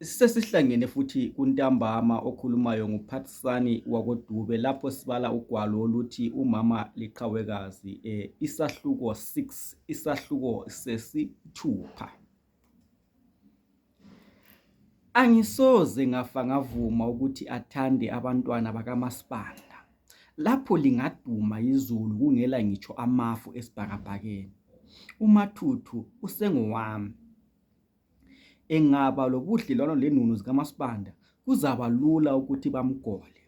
Sisesihlangene futhi kuntambama okhulumayo nguphathisani wakodube lapho sibala ugwalo oluthi umama liqhawekazi um isahluko 6 isahluko sesithupha angisoze ngafa ngavuma ukuthi athande abantwana bakamasibanda lapho lingaduma izulu kungela ngitsho amafu esibhakabhakeni umathuthu usengowami engaba lobudlelwano lenunu zikamasibanda kuzaba lula ukuthi bamgole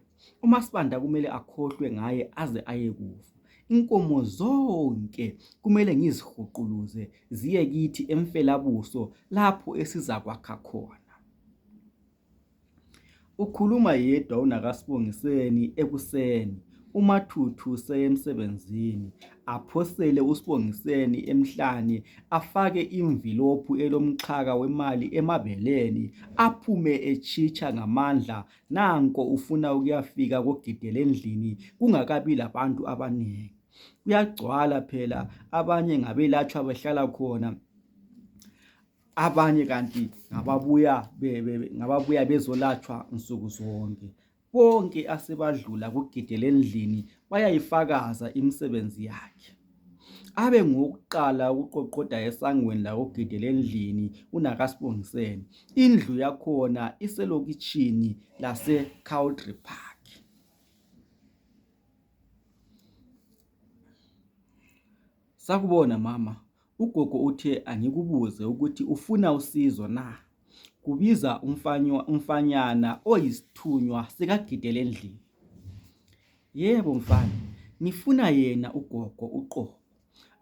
umasibanda kumele akhohlwe ngaye aze ayekufa inkomo zonke kumele ngizihuquluze ziye kithi emfelabuso lapho esizakwakha khona Ukhuluma yedwa uNakaSbongiseni ekuseni. UMathuthu useyemsebenzini. Aphosele uSbongiseni emhlane afake imvilophu elomxhaka wemali emabeleni aphume etshitsha ngamandla nanko ufuna ukuyafika koGidela endlini kungakabi labantu abanengi. Kuyagcwala phela abanye ngabelatshwa behlala khona. abanye kanti ngababuya ngababuya bezolatshwa nsuku zonke bonke asebadlula kugidele endlini bayayifakaza imisebenzi yakhe abe ngowokuqala ukuqoqoda esangweni lakogidela endlini unakasibongiseni indlu yakhona iselokitshini lase-cowdry park sakubona mama Ugogo uthe angikubuze ukuthi ufuna usizo na? Kubiza umfanyana oyisithunywa sikaGidela endlini. Yebo mfana, ngifuna yena ugogo uqobo.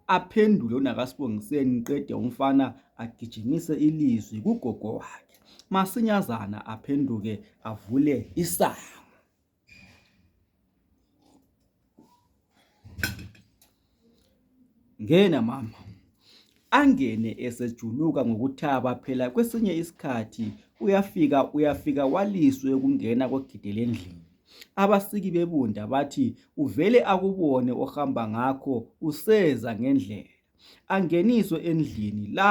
Aphendule uNakaSibongiseni qede umfana agijimise ilizwi kugogo wakhe. Masinyazana aphenduke avule isango. Ngena mama. Angene esejuluka ngokuthaba phela kwesinye isikhathi uyafika uyafika waliswe ukungena kogidi lendlini. Abasiki bebunda bathi uvele akubone ohamba ngakho useza ngendlela. Angeniswe endlini la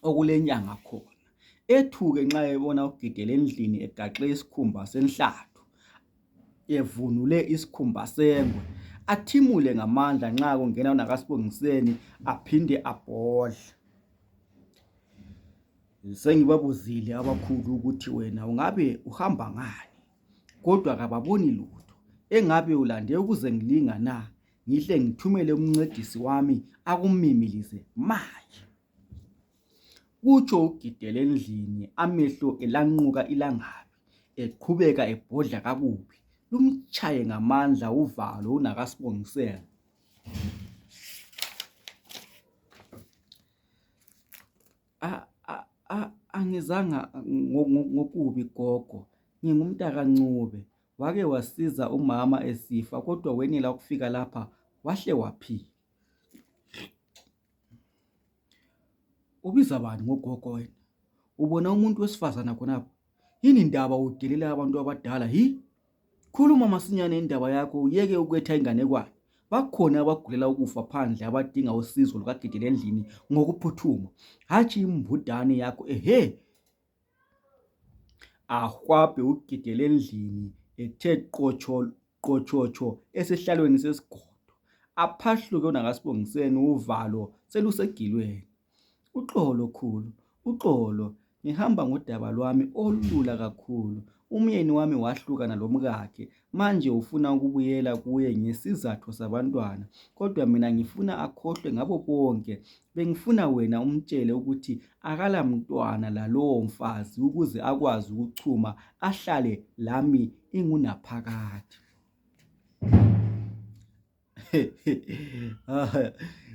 okulenyanga khona ethuke nxa ebona uGidela endlini egaxe isikhumba senhlathu evunule isikhumba sengwe athimule ngamandla nxa kungena wona kaSibongiseni aphinde abhodle sengibabuzile abakhulu ukuthi wena ungabe uhamba ngani kodwa kababoni lutho engabe ulande ukuze ngilinga na ngihle ngithumele umncedisi wami akumimilize manje kutsho ugidele endlini amehlo elanquka ilangabi eqhubeka ebhodla kakubi lumtshaye ngamandla uvalo unakasibongisela angizanga ngokubi gogo ngingumntaka ncube wake wasiza umama esifa kodwa wenela ukufika lapha wahle waphila ubiza bani ngogogo wena ubona umuntu wesifazana khonapho yini ndaba udelela abantu abadala hi khuluma masinyane indaba yakho uyeke ukwetha inganekwane bakhona abagulela ukufa phandle abadinga usizo lukagidele endlini ngokuphuthuma hatshi imbudane yakho ehe ahwabhe ugidele endlini ethe qotshotsho esihlalweni sesigodo aphahluke wona kaSbongiseni uvalo selusegilweni uxolo khulu uxolo ngihamba ngodaba lwami olula kakhulu umyeni wami wahlukana lomkakhe Manje ufuna ukubuyela kuye ngesizatho sabantwana. Kodwa mina ngifuna akhohlwe ngabo bonke. Bengifuna wena umtshele ukuthi akala mntwana lalowo mfazi ukuze akwazi ukuchuma ahlale lami ingunaphakade.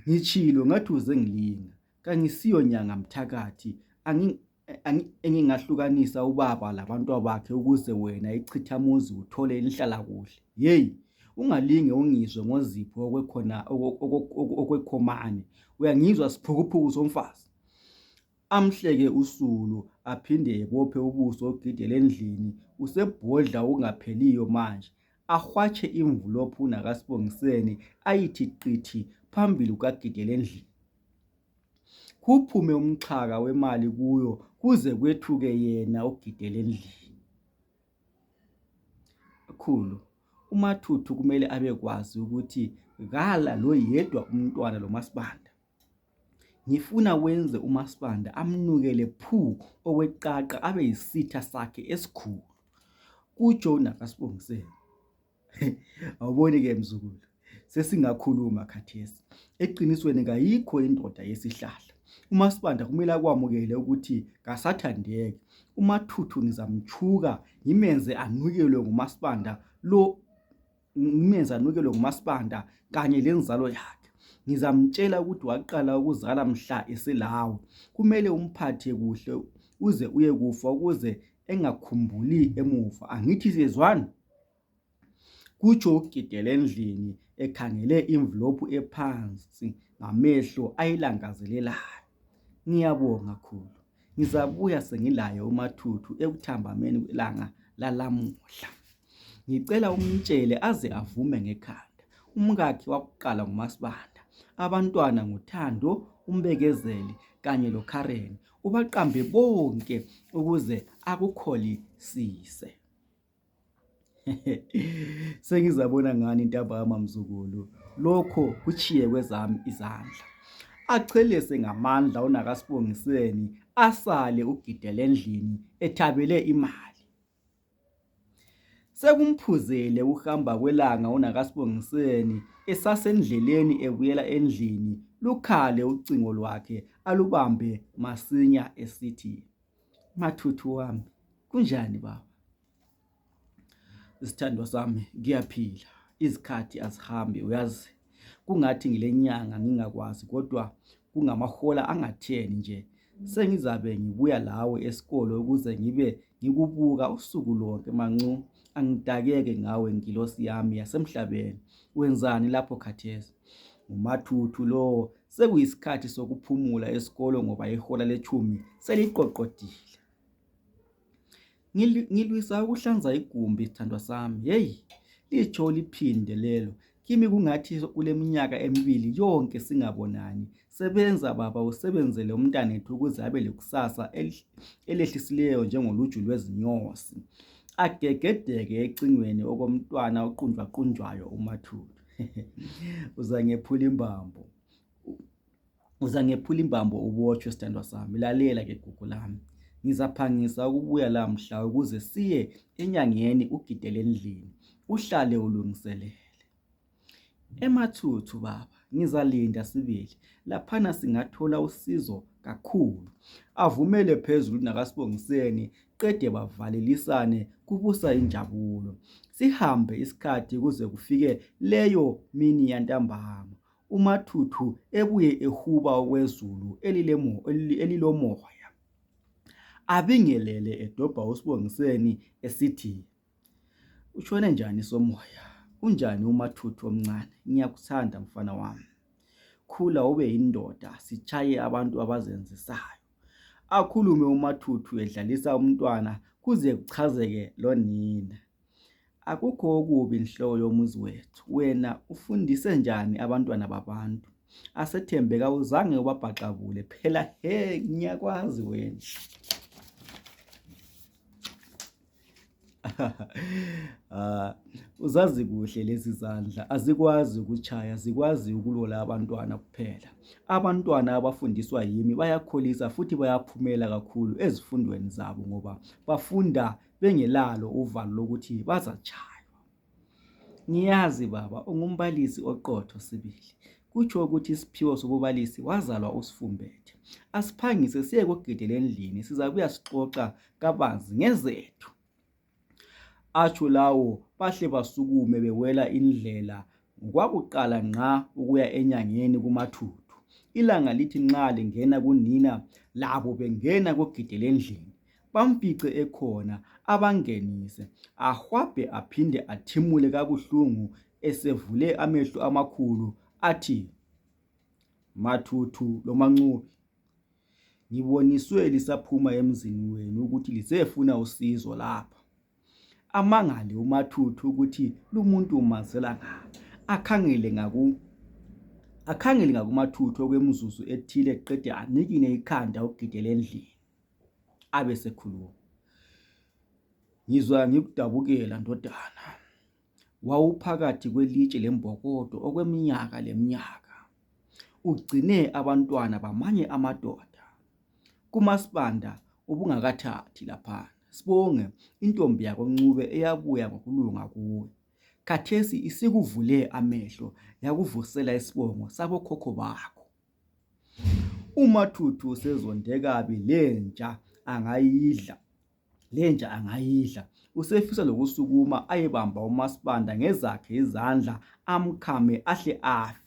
Ngitshilo ngathi uze ngilinga. Kangisiyo nyanga mthakathi. Angi engingahlukanisa ubaba labantwabakhe ukuze wena ichithamuzi uthole inhlalakuhle yeyi ungalinge ungizwe ngozipho okwekhona okwekhomane uyangizwa siphukuphuku somfazi amhleke usulu aphinde ebophe ubuso ogidele endlini usebhodla ungapheliyo manje ahwatshe imvulophu uNakaSibongiseni ayithi qithi phambili kukaGidelendlini. Kuphume umxhaka wemali kuyo kuze kwethuke yena uGidelendlini. Khulu, uMathuthu kumele abekwazi ukuthi kala loyedwa umntwana loMasibanda. Ngifuna wenze umaSibanda amnukele phu okweqaqa abe yisitha sakhe esikhulu, kutsho uNaka Sibongiseni. Awuboni ke mzukulu, sesingakhuluma khathesi. Eqinisweni kayikho indoda yesihlahla. UmaSibanda kumele akwamukele ukuthi kasathandeki. UMathuthu ngizamtshuka ngimenze anukelwe ngumaSibanda lo ngimenze anukelwe ngumasibanda kanye lenzalo yakhe ngizamtshela ukuthi waqala ukuzala mhla eselawo kumele umphathe kuhle uze uye kufa ukuze engakhumbuli emuva angithi siyezwani kutsho ugidele endlini ekhangele imvlophu ephansi ngamehlo ayilangazelelayo ngiyabonga khulu Ngizabuya sengilaye uMathuthu ekuthambameni kwelanga lalamuhla. Ngicela umtshele aze avume ngekhanda. Umkakhe wakuqala nguMaSibanda, abantwana nguThando, uMbekezeli kanye loKaren. Ubaqambe bonke ukuze akukholisise. sengizabona ngani intambama mzukulu lokho kutshiye kwezami izandla achelese ngamandla unakasibongiseni asale ugidele endlini ethabele imali sekumphuzele ukuhamba kwelanga unakasibongiseni esasendleleni ebuyela endlini lukhale ucingo lwakhe alubambe masinya esithi Mathuthu wami, kunjani baba? Isithandwa sami ngiyaphila, izikhathi azihambi uyazi. Kungathi ngilenyanga ngingakwazi kodwa kungamahola angatheni nje sengizabe ngibuya lawe esikolo ukuze ngibe ngikubuka usuku lonke mancu angidakeke ngawe ngilosi yami yasemhlabeni wenzani lapho khathesi ngumathuthu lowo Sekuyisikhathi sokuphumula esikolo ngoba ihola letshumi seliqoqodile. Ngilwisa ukuhlanza igumbi sthandwa sami. Hey! Litsho uliphinde lelo. Kimi kungathi kuleminyaka emibili yonke singabonani. Sebenza baba usebenzele umntanethu ukuze abe lekusasa elehlisileyo njengoluju lwezinyosi. Agegedeke ecingweni okomntwana oqunjwaqunjwayo umathupha. uzangephula imbambo uzangephula imbambo ubotshwe sithandwa sami lalela ke gugu lami ngizaphangisa ukubuya la mhla ukuze siye enyangeni ugidele endlini uhlale ulungiselele emathuthu baba ngizalinda sibili laphana singathola usizo kakhulu avumele phezulu nakasibongiseni qede bavalelisane kubusa injabulo sihambe isikhathi kuze kufike leyo mini yantambama umathuthu ebuye ehuba okwezulu elilomoya abingelele edobha usibongiseni esithi Utshone njani somoya? Unjani umathuthu omncane? Ngiyakuthanda mfana wami. Khula ube yindoda, sitshaye abantu abazenzisayo. Akhulume umathuthu edlalisa umntwana kuze kuchazeke lonina. Akukho okubi nhlobo yomuzi wethu. Wena ufundise njani abantwana babantu? Asethembe kawuzange ubabhaxabule. Phela he ngiyakwazi wena. Ah, uzazi kuhle lezi zandla azikwazi ukutshaya zikwazi ukulola abantwana kuphela abantwana abafundiswa yimi bayakholisa futhi bayaphumela kakhulu ezifundweni zabo ngoba bafunda bengelalo uvalo lokuthi bazatshaywa Ngiyazi baba ungumbalisi oqotho sibili kutsho ukuthi isiphiwo sobubalisi wazalwa usifumbethe asiphangise siye kugidela endlini sizabuya sixoxa kabanzi ngezethu atsho lawo bahle basukume bewela indlela Kwakuqala nxa ukuya enyangeni kumathuthu. Ilanga lithi nxa lingena kunina labo bengena kogidela endlini bamfice ekhona abangenise ahwabhe aphinde athimule kabuhlungu esevule amehlo amakhulu athi, Mathuthu loMaNcube ngiboniswe lisaphuma emzini wenu ukuthi lisiyafuna usizo lapha. Amangale uMathuthu ukuthi lumuntu umazela ngaphi. Akhangele ngaku akhangele ngakuMathuthu okwemizuzu ethile qede anikine ikhanda ugidele endlini. Abe sekhuluma. Ngizwa ngikudabukela ndodana. wawuphakathi kwelitshe lembokodo okweminyaka leminyaka ugcine abantwana bamanye amadoda kumasibanda ubungakathathi lapha sibonge intombi yakoncube eyabuya ngokulunga kuwe khathesi isikuvule amehlo yakuvusela isibongo sabokhokho bakho umathuthu sezonde kabi lenja angayidla lenja angayidla usefisa lokusukuma ayebamba umasibanda ngezakhe izandla amkhame ahle afe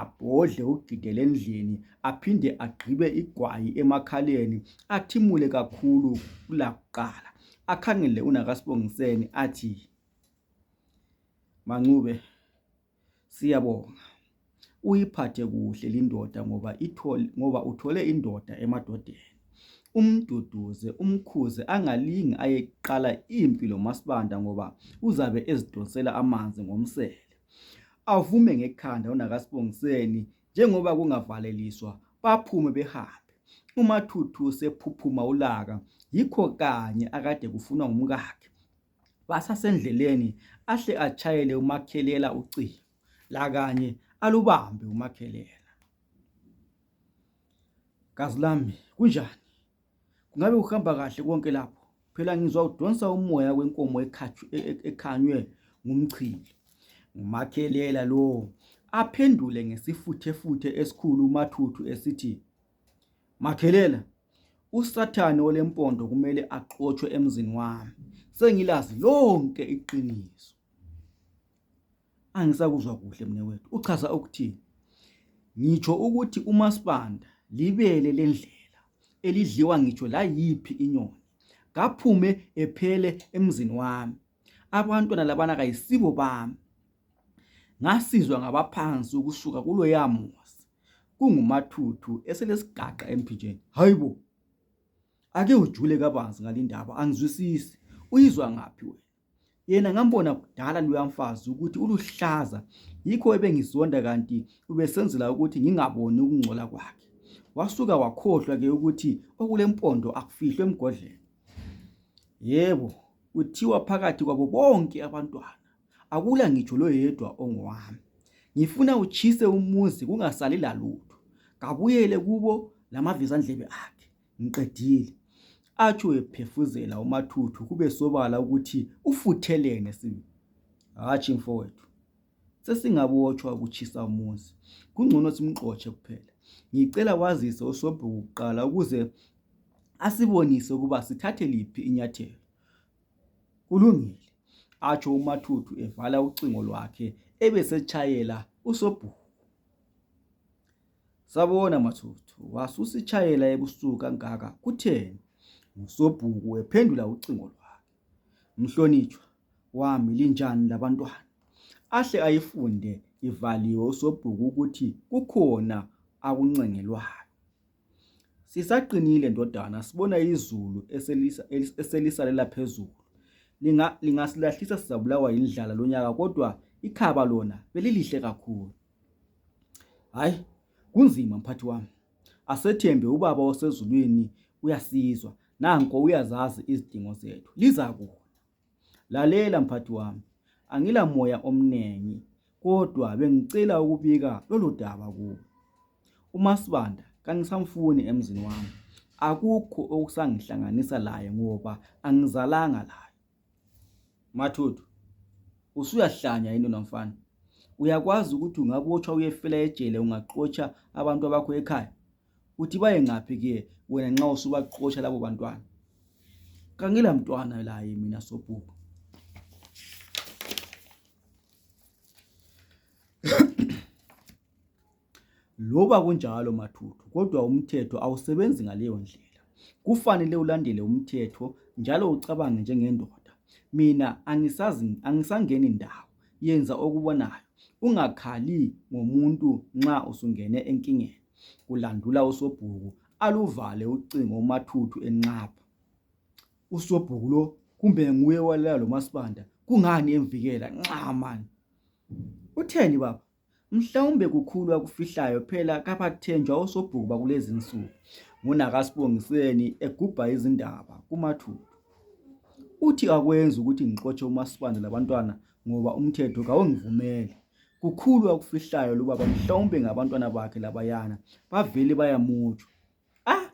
abhodle ugidele endlini aphinde agqibe igwayi emakhaleni athimule kakhulu kulakuqala akhangele unakasibongiseni athi mancube Siyabonga. Uyiphathe kuhle lindoda ngoba ithole ngoba uthole indoda emadodeni. Umduduze, umkhuze angalingi ayeqala impi loMasibanda ngoba uzabe ezidonsela amanzi ngomsele. Avume ngekhanda unakasibongiseni njengoba kungavaleliswa baphume behambe. UMathuthu sephuphuma ulaka yikho kanye akade kufunwa ngumkakhe. Basasendleleni ahle atshayele umakhelela ucingo lakanye alubambe umakhelela. Gazi lami kunjani? Kungabe uhamba kahle konke lapho? Phela ngizwa udonsa umoya wenkomo e-, e-, ekhanywe ngumchili. Umakhelela lowo aphendule ngesifuthefuthe esikhulu umathuthu esithi Makhelela, uSathane olempondo kumele axotshwe emzini wami. Sengilazi lonke iqiniso. Angisakuzwa kuhle mne wethu. Uchaza ukuthini? Ngitsho ukuthi umasibanda libele lendlela elidliwa ngitsho layiphi inyoni. Kaphume ephele emzini wami. Abantwana labana kayisibo bami. Ngasizwa ngabaphansi ukusuka kuloyamuzi. kungumathuthu eselesigaqa emphinjeni hayibo ake ujule kabanzi ngalindaba angizwisisi uyizwa ngaphi wena yena ngambona kudala luyamfazi ukuthi uluhlaza yikho ebengizonda kanti ubesenzela ukuthi ngingaboni ukungcola kwakhe wasuka wakhohlwa ke ukuthi okulempondo akufihlwe emgodleni yebo kuthiwa phakathi kwabo bonke abantwana Akula ngitsho loyedwa ongowami. Ngifuna utshise umuzi kungasali lalutho. Kabuyele kubo lamavizandlebe akhe. Ngiqedile. Atsho ephefuzela umathuthu kube sobala ukuthi ufuthelene sibi. Hatshi mfowethu. Sesingabotshwa ukutshisa umuzi. Kungcono simxotshe kuphela. Ngicela wazise usobhuku kuqala ukuze asibonise ukuba sithathe liphi inyathelo. Kulungile, atsho uMathuthu evala ucingo lwakhe ebesetshayela uSobhuku. Sabona Mathuthu, wasusitshayela ebusuku kangaka kutheni? NguSobhuku ephendula ucingo lwakhe. Mhlonitshwa wami linjani labantwana? Ahle ayifunde ivaliwe uSobhuku ukuthi kukhona akuncengelwayo. Sisaqinile ndodana, sibona izulu eselisalela phezulu. Lingasilahlisa sizabulawa yindlala lonyaka kodwa ikhaba lona belilihle kakhulu. Hayi, kunzima mphathi wami. Asethembe ubaba osezulwini uyasizwa. Nanko uyazazi izidingo zethu. Liza kuwe. Lalela mphathi wami, angila moya omnengi kodwa bengicela ukubika lolu daba kuwe. UMasibanda kangisamfuni emzini wami, akukho okusangihlanganisa laye ngoba angizalanga laye. Mathuthu, usuyahlanya yini nomfana? Uyakwazi ukuthi ungabotshwa uyefela ejele ungaxotsha abantu abakho ekhaya? uthi baye ngaphi ke wena nxa usubaxotsha labo bantwana kangila mntwana laye mina sobhuku loba kunjalo mathuthu kodwa umthetho awusebenzi ngaleyo ndlela kufanele ulandele umthetho njalo ucabange njengendoda mina angisangeni ndawo yenza okubonayo ungakhali ngomuntu nxa usungene enkingeni kulandula usobhuku aluvale ucingo umathuthu enxapha usobhuku lo kumbe nguye walela lo masibanda kungani emvikela nxa mani utheni baba mhlawumbe kukhulu akufihlayo phela kabathenjwa osobhuku bakulezi nsuku ngunakasibongiseni egubha izindaba kumathupha uthi akwenzi ukuthi ngixotshe umasibanda labantwana ngoba umthetho kawungivumeli kukhulu akufihlayo lubaba mhlawumbe ngabantwana bakhe labayana bavele bayamutshwa ah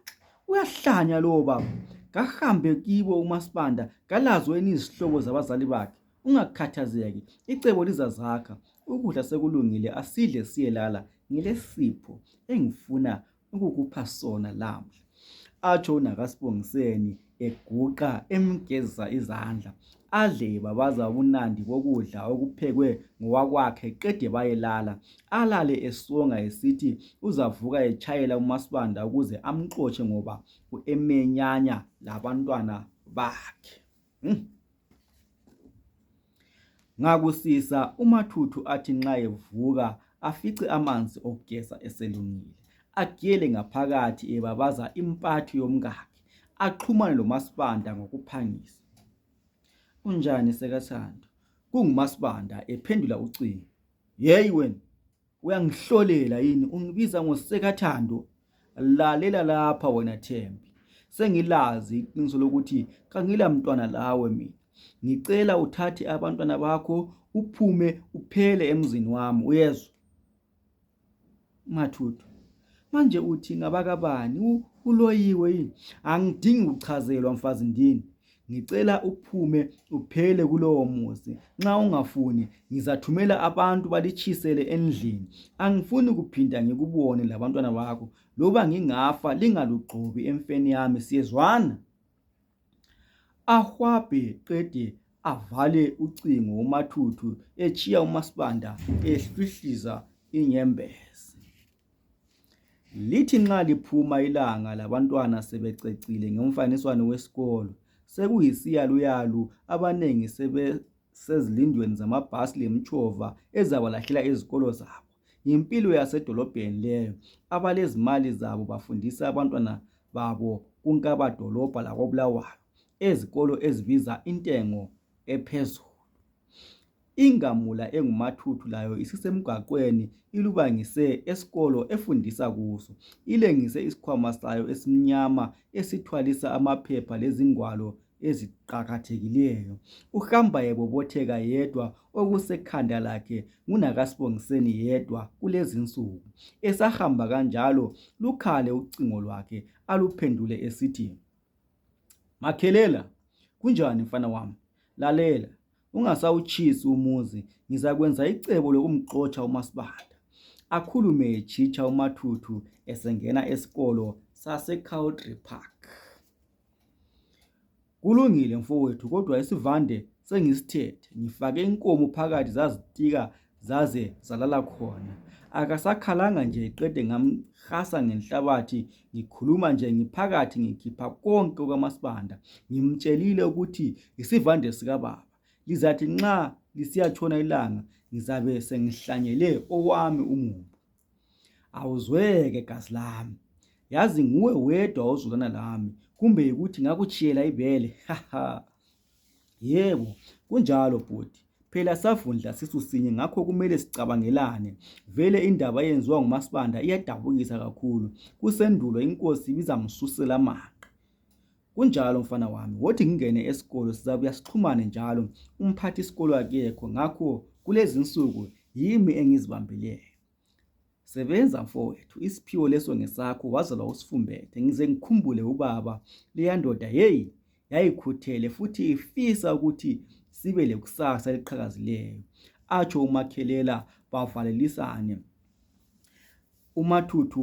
uyahlanya lowo baba kahambe kibo umasibanda kalazo enizihlobo zabazali bakhe ungakhathazeki icebo lizazakha ukudla sekulungile asidle siyelala ngilesipho engifuna ukukupha sona lamhla atsho unakasibongiseni eguqa emgezisa izandla adle babaza ubunandi bokudla okuphekwe ngowakwakhe qede bayelala alale esonga esithi uzavuka etshayela umasibanda ukuze amxotshe ngoba uemenyanya labantwana bakhe Hmm. Ngakusisa umathuthu athi nxa evuka afice amanzi okugeza eselungile agele ngaphakathi ebabaza impathu yomkakhe axhumane lomasibanda ngokuphangisa unjani sekathando kungumasibanda ephendula ucingo yeyi wena uyangihlolela yini ungibiza ngosekathando lalela lapha wena Thembi sengilazi iqiniso lokuthi kangila mntwana lawe mina ngicela uthathe abantwana bakho uphume uphele emzini wami uyezwa mathuthu manje uthi ngabakabani uloyiwe yini angidingi ukuchazelwa mfazi ndini ngicela uphume uphele kulowo muzi nxa ungafuni ngizathumela abantu balitshisele endlini angifuni kuphinda ngikubone labantwana bakho loba ngingafa lingalugxobi emfeni yami siyezwana ahwabhe qede avale ucingo umathuthu etshiya umasibanda ehlwihliza inyembezi Lithi nxa liphuma ilanga labantwana sebececile ngomfaniswano wesikolo sekuyisiyaluyalu abanengi sebesezilindweni zamabhasi lemitshova ezabalahlela ezikolo zabo. Yimpilo yasedolobheni leyo. Abalezimali zabo bafundisa abantwana babo kunkabadolobha lakoBulawayo ezikolo ezibiza intengo ephezulu. Ingamula engumathuthu layo isisemgwaqweni ilubangise esikolo efundisa kuso. Ilengise isikhwama sayo esimnyama esithwalisa amaphepha lezingwalo eziqakathekileyo. Uhamba ebobotheka yedwa okusekhanda lakhe ngunakaSbongiseni yedwa kulezinsuku. Esahamba kanjalo lukhale ucingo lwakhe aluphendule esithi, Makhelela, kunjani mfana wami? Lalela, ungasawutshisi umuzi ngizakwenza icebo lokumxotsha umasibanda akhulume etshitsha umathuthu esengena esikolo sasecowdry park kulungile mfowethu kodwa isivande sengisithethe ngifake inkomo phakathi zazitika zaze zalala khona akasakhalanga nje qede ngamhasa ngenhlabathi ngikhuluma nje ngiphakathi ngikhipha konke okamasibanda ngimtshelile ukuthi yisivande sikababa lizathi nxa lisiyatshona ilanga ngizabe sengihlanyele owami umumbu awuzweke gazi lami yazi nguwe wedwa ozulana lami kumbe yikuthi ngakutshiyela ibele haha Yebo, kunjalo bhuti. Phela savundla sisu sinye ngakho kumele sicabangelane. Vele indaba eyenziwa nguMasibanda iyadabukisa kakhulu. Kusendulo inkosi ibizamsusela amanga. Kunjalo mfana wami, wothi ngingene esikolo sizabuya sixhumane njalo. Umphathi isikolo akekho ngakho kulezinsuku yimi engizibambileyo. Sebenza mfowethu isiphiwo leso ngesakho waze wawusifumbethe ngize ngikhumbule ubaba leyandoda yeyi yayikhuthele futhi ifisa ukuthi sibe lekusasa eliqhakazileyo atsho umakhelela bavalelisane umathuthu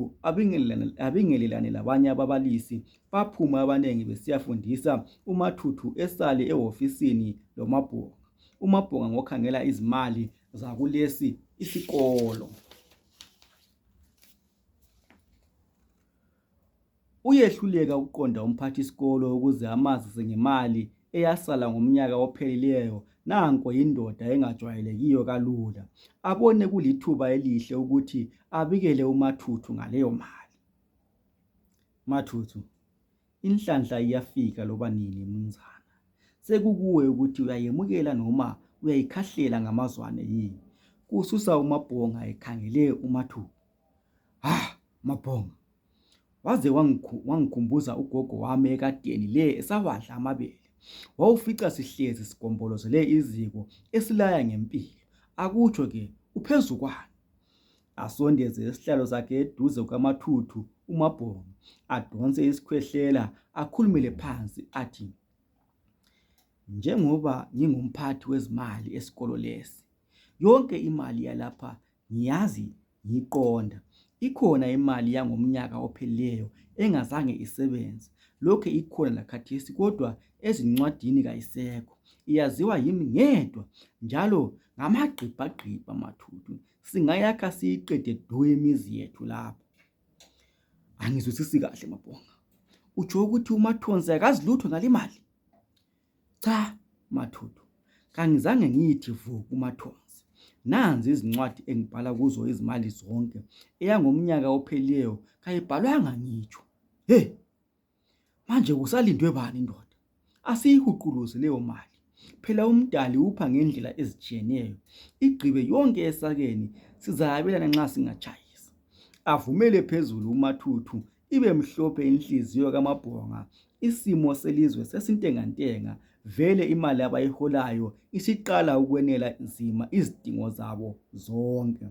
abingelelane labanye ababalisi baphuma abanengi besiyafundisa umathuthu esale ehofisini lomabhunga umabhunga ngokhangela izimali zakulesi isikolo. Uyehluleka ukuqonda umphathisikolo ukuze amazise ngemali eyasala ngomnyaka ophelileyo nanko yindoda engajwayelekiyo kalula abone kulithuba elihle ukuthi abikele umathuthu ngaleyo mali mathuthu Inhlanhla iyafika loba nini munzana. Sekukuwe ukuthi uyayemukela noma uyayikhahlela ngamazwane yini. Kususa uMabhonga ekhangele uMathuba. Ha, ah, Mabhonga. Waze wangikhumbuza ugogo wami ekadeni le esawadla amabele. Wawufica sihlezi sigombolozele iziko esilaya ngempilo. Akutsho ke uphezu kwani? asondeze isihlalo sakhe eduze kwamathuthu umabhongo adonse isikhwehlela akhulumele phansi athi njengoba ngingumphathi wezimali esikolo lesi yonke imali yalapha ngiyazi ngiqonda ikhona imali yangomnyaka ophelileyo engazange isebenze lokhe ikhona lakhathesi kodwa ezincwadini kayisekho iyaziwa yimi ngedwa njalo ngamagqibhagqibha mathuthu singayakha siyiqede du imizi yethu lapha angizwisisi kahle mabhonga utsho ukuthi umathonsi akazi lutho ngalimali cha mathuthu kangizange ngiyithi vu kumathonsi nanzi izincwadi engibhala kuzo izimali zonke eyangomnyaka ophelileyo kayibhalwanga ngitsho he Manje kusalindwe bani ndoda? Asiyihuquluzi leyo mali. Phela umdali upha ngendlela ezitshiyeneyo. Igqibe yonke esakeni sizayabelana nxa singatshayisa. Avumele phezulu umathuthu ibe mhlophe inhliziyo kamabhonga. Isimo selizwe sesintengantenga vele imali abayiholayo isiqala ukwenela nzima izidingo zabo zonke.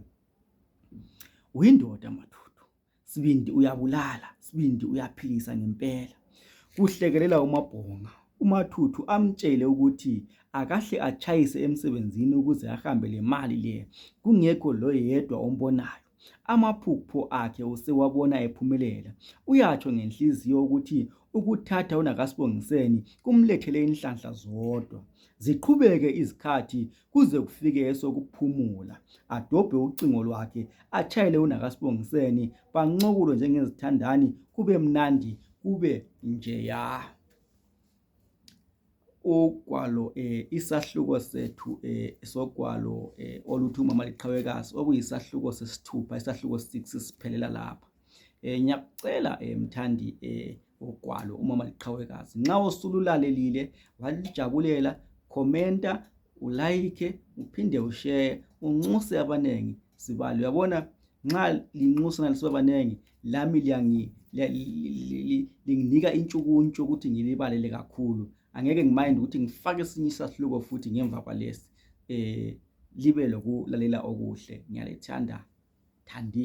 Uyindoda mathuthu. sibindi uyabulala sibindi uyaphilisa ngempela kuhlekelela umabhonga umathuthu amtshele ukuthi akahle atshayise emsebenzini ukuze ahambe lemali le kungekho loyedwa ombonayo amaphupho akhe usewabona ephumelela uyatsho ngenhliziyo ukuthi ukuthatha unakasibongiseni kumlethele inhlanhla zodwa ziqhubeke izikhathi kuze kufike esokuphumula adobhe ucingo lwakhe atshayele unakasibongiseni bancokulo njengezithandani kube mnandi kube njeya ugwalo eh, isahluko sethu eh, sogwalo eh, oluthi umama liqhawekazi okuyisahluko sesithupha isahluko 6 siphelela lapha eh, ngiyakucela eh, mthandi eh, ugwalo umama liqhawekazi nxa usululalelile walijabulela khomenta ulayikhe uphinde usheye unxuse abanengi sibali uyabona nxa linxusa nalisiba banengi lami linginika intshukuntshu ukuthi ngilibalele kakhulu angeke ngimayindi ukuthi ngifake esinye isahluko futhi ngemva kwalesi um libe lokulalela okuhle ngiyalithanda thandi